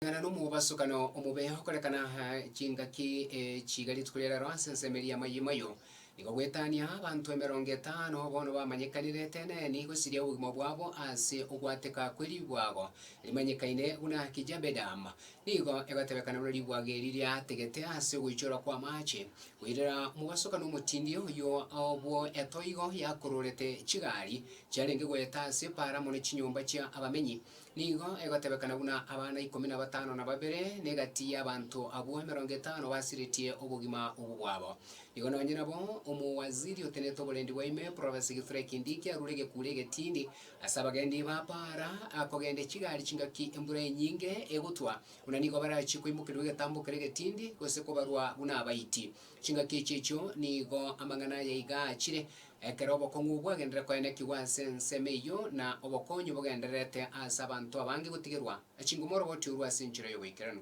Amang'ana nomobaso kano omobe okorekana chingaki chiga rituko ria rero ase ensemo eria amayemo ayio nigo gwetania abanto emerongo etano bono bamanyekanire eteneni gosiria obogima bwabo ase ogwateka kwe ribwago rimanyekaine buna kijabedam nigo egotebekana buna ribwago eri riategete ase ogoichorwa kw'amache koirera omobaso kano omotindi oyio obwo etoigo yakororete chigari chiarenge goeta ase para mono chinyomba chia abamenyi Nigo egotebekana buna abana ikomi na batano na babere, na egati y'abanto abwo emerongo etano basiretie obogima obwo bwabo. Nigo nonye nabo omowaziri otenete oborendi bwa ime eprovensi egetura ekende eke arure egekuure egetindi ase abagendi bapaara kogende chigari chingaki embura enyinge egotwa, buna nigo barachie koimokerwa egetambo kere egetindi, gose kobarwa buna abaiti. Chingaki echi echio nigo amang'ana aya iga aachire, Ekero obokong'u bwagenderire koenekigwa ase ensemo eyio, na obokonyi bogendererete ase abanto abange gotigerwa, chingo moroboti orue ase enchera y'oboikeranu.